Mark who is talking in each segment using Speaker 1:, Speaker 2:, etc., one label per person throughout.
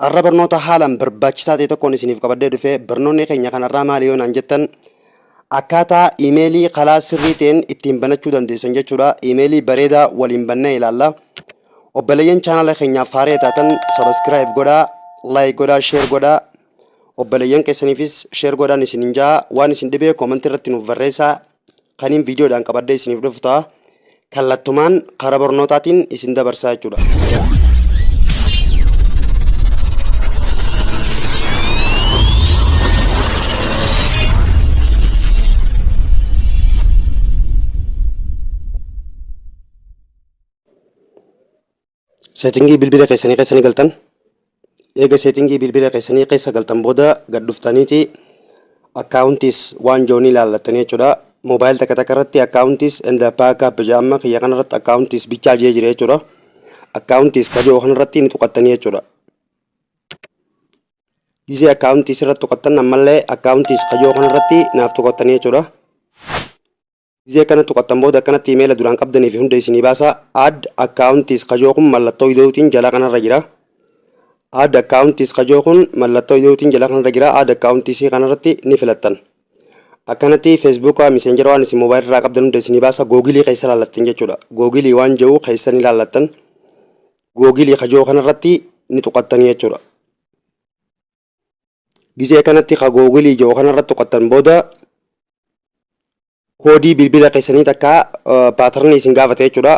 Speaker 1: Har'a barnoota haalaan barbaachisaa ta'e tokkoon isiniif qabadhee dhufe barnoonni keenya kanarraa maali yoo naan jettan akkaataa iimeelii kalaa sirrii ta'een ittiin banachuu dandeessan jechuudha. Iimeelii bareedaa waliin bannee ilaalla. Obboleeyyan chaanala keenyaaf haaree taatan sabaskiraayib godhaa, laayik godhaa, sheer godhaa. Obbaleyyan keessaniifis share godhaan isinin ja'a waan isin dhibee comment irratti nuuf barreessaa kaniin viidiyoodhaan qabadhee isiniif dhufu ta'a kallattumaan karaa barnootaatiin isin dabarsaa jechuudha. Seetingii bilbila keessanii keessa ni galtan. Eega seetingii bilbila keessanii keessa galtan booda gad dhuftaniiti akkaawuntiis waan jiru ni ilaallattanii jechuudha. Moobaayil takka takka irratti akkaawuntiis enda baakaap jedha amma kiyya kana irratti akkaawuntiis bichaa jee jira jechuudha. Akkaawuntiis ka jiru kana irratti ni tuqattanii jechuudha. Gisee akkaawuntiis irratti tuqattan ammallee akkaawuntiis ka jiru kana irratti naaf tuqattanii jechuudha. Gizee akkana tuqattan booda akkanatti imeela duraan qabdanii fi hunda isinii baasa. Add accounts kajoo kun mallattoo ida'uutiin jalaa kanarra jira. Add accounts kajoo kun mallattoo ida'uutiin jalaa kanarra jira. Add accounts kanarratti ni filattan. Akkanatti Facebook messenger waan isin mobile irraa qabdan hunda isinii baasa. Googilii keessa ilaallattan jechuudha. Googilii waan jiru keessa ni ilaallattan. Googilii kajoo kanarratti ni tuqattanii jechuudha. Gizee kanatti ka googilii jiru kanarra tuqattan booda koodii bilbila keessanii takka paatarnii isin gaafata jechuudha.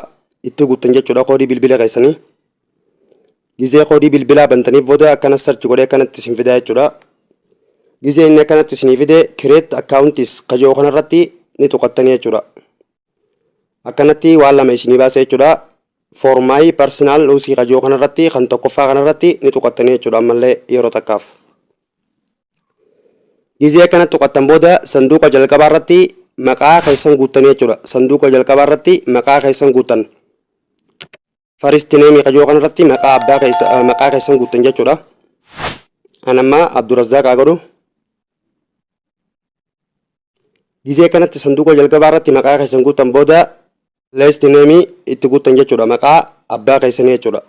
Speaker 1: Itti guuttan jechuudha koodii bilbila keessanii. Gizee koodii bilbilaa bantaniif booda akkana sarchi godhee akkanatti isin fidaa jechuudha. Gizee inni akkanatti isinii fide kireet akkaawuntiis ka jiru kanarratti ni tuqattanii jechuudha. akkanatti waan lama isinii baasa jechuudha for my personal usii kajoo kanarratti kan tokkoffaa kanarratti ni tuqattanii jechuudha ammallee yeroo takkaaf gizee akkana tuqattan booda sanduuqa jalqabaa irratti maqaa keessan guuttanii jechuudha sanduuqa jalqabaa irratti maqaa keessan guuttan First name kajoo kanarratti maqaa abbaa keessa maqaa keessan guuttan jechuudha. Anammaa Abdurrazzaaq haa godhu. Gizee kanatti sanduuqa jalqabaa irratti maqaa keessan guuttan booda last name itti guuttan jechuudha. Maqaa abbaa keessanii jechuudha.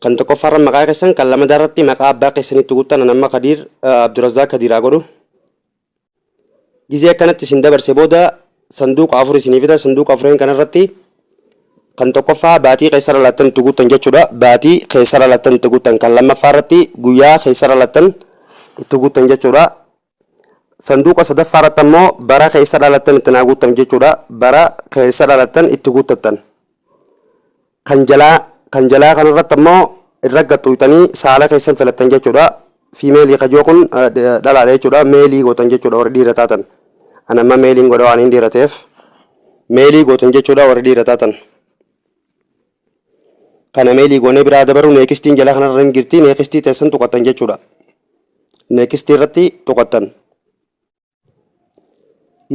Speaker 1: Kan tokkoffaa irra maqaa keessan kan lamadaa irratti maqaa abbaa keessanii itti guuttan anamma Kadiir Abdurrazzaaq Kadiir haa godhu. gizee akkanatti isin dabarse booda sanduuqa afur isinii fida sanduuqa afureen kanarratti kan tokkoffaa baatii keessara laattan itti guuttan jechuudha baatii keessara laattan itti guuttan kan lammaffaa irratti guyyaa keessara laattan itti guuttan jechuudha sanduuqa sadaffaa irratti ammoo bara keessa dhalattan itti naa guuttan jechuudha bara keessa dhalattan itti guuttattan Kan jalaa Kan jalaa kanarratti ammoo irra gad xuqxanii saala keessan filattan jechuudha. Fiimeelii kan jiru kun dhalaadha jechuudha. Meelii gootan jechuudha warri dhiira taatan. Ani amma meeliin godha waan hin dhiira ta'eef. Meelii gootan jechuudha warri dhiira taatan. Kana meelii goonee biraa dabaru neekistiin jalaa kanarra hin jirti. Neekistii teessan tuqattan jechuudha. Neekistii irratti tuqattan.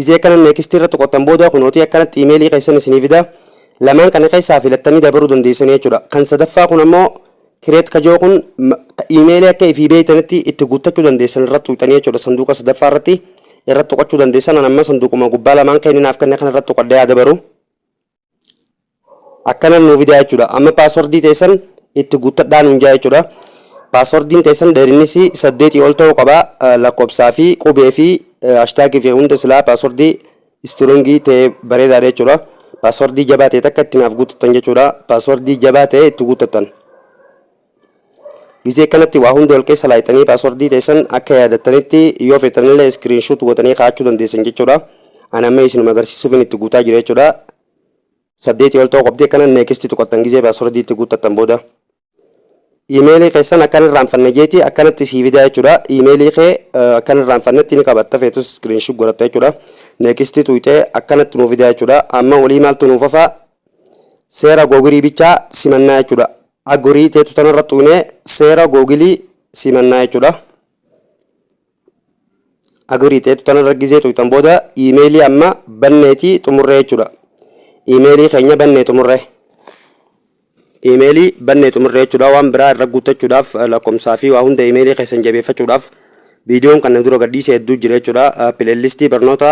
Speaker 1: Izii akkana next irra tuqattan booda kunootii akkanatti imeelii keessan isinii fida. Lamaan kana keessaa filattanii dabaruu dandeessanii jechuudha. Kan sadaffaa kun ammoo kireet kajoo kun imeelii akka ifii beeytanitti itti guuttachuu dandeessan irratti tuqxanii jechuudha. Sanduuqa sadaffaa irratti irratti tuqachuu dandeessan. An amma sanduuquma gubbaa lamaan keeninaaf kenne kana irratti tuqadhee haa dabaru. akkana nuu fidaa jechuudha amma paaswordii teessan itti guuttadhaa nuun jaa jechuudha paaswordiin teessan dheerinnis saddeetii ol ta'uu qaba lakkoofsaa fi qubee fi ashtaagii fi hunda silaa paaswordii istirongii ta'e bareedaadha jechuudha paaswordii jabaa ta'e takka itti naaf guuttattan jechuudha paaswordii jabaa ta'e itti guuttattan Gizee kanatti waa hunda wal keessa laayxanii paaswardii teessan akka yaadattanitti yoo feetanillee iskiriinshuut gootanii kaa'achuu dandeessan jechuudha. Ani amma isinuma agarsiisuufin itti guutaa jira jechuudha. Saddeetii ol ta'uu qabdi akkana neekisti tuqattan gizee paaswardii itti guuttattan booda. Iimeelii keessan akkan irraanfanne jeeti akkanatti sii fidaa jechuudha. Iimeelii kee akkan irraanfannetti ni qabatta feetus iskiriinshuut godhatta jechuudha. Neekisti tuqxee akkanatti nuu fidaa jechuudha. Amma olii maaltu nuuf hafaa? Seera googirii bichaa simannaa jechuudha. Agurii tetu tanarra xuine seera gogili si mannaa jechudha. Agurii tetu tanarra gizee xuitan boda imeeli amma banneeti xumurre jechudha. Imeeli keenya bannee xumurre. Imeeli bannee xumurre jechudha waan biraa irra guuttachuudhaaf lakkomsaa fi waa hunda imeeli keessan jabeeffachuudhaaf viidiyoon kanna dura gadhiise hedduu jira jechudha. Pileellistii barnoota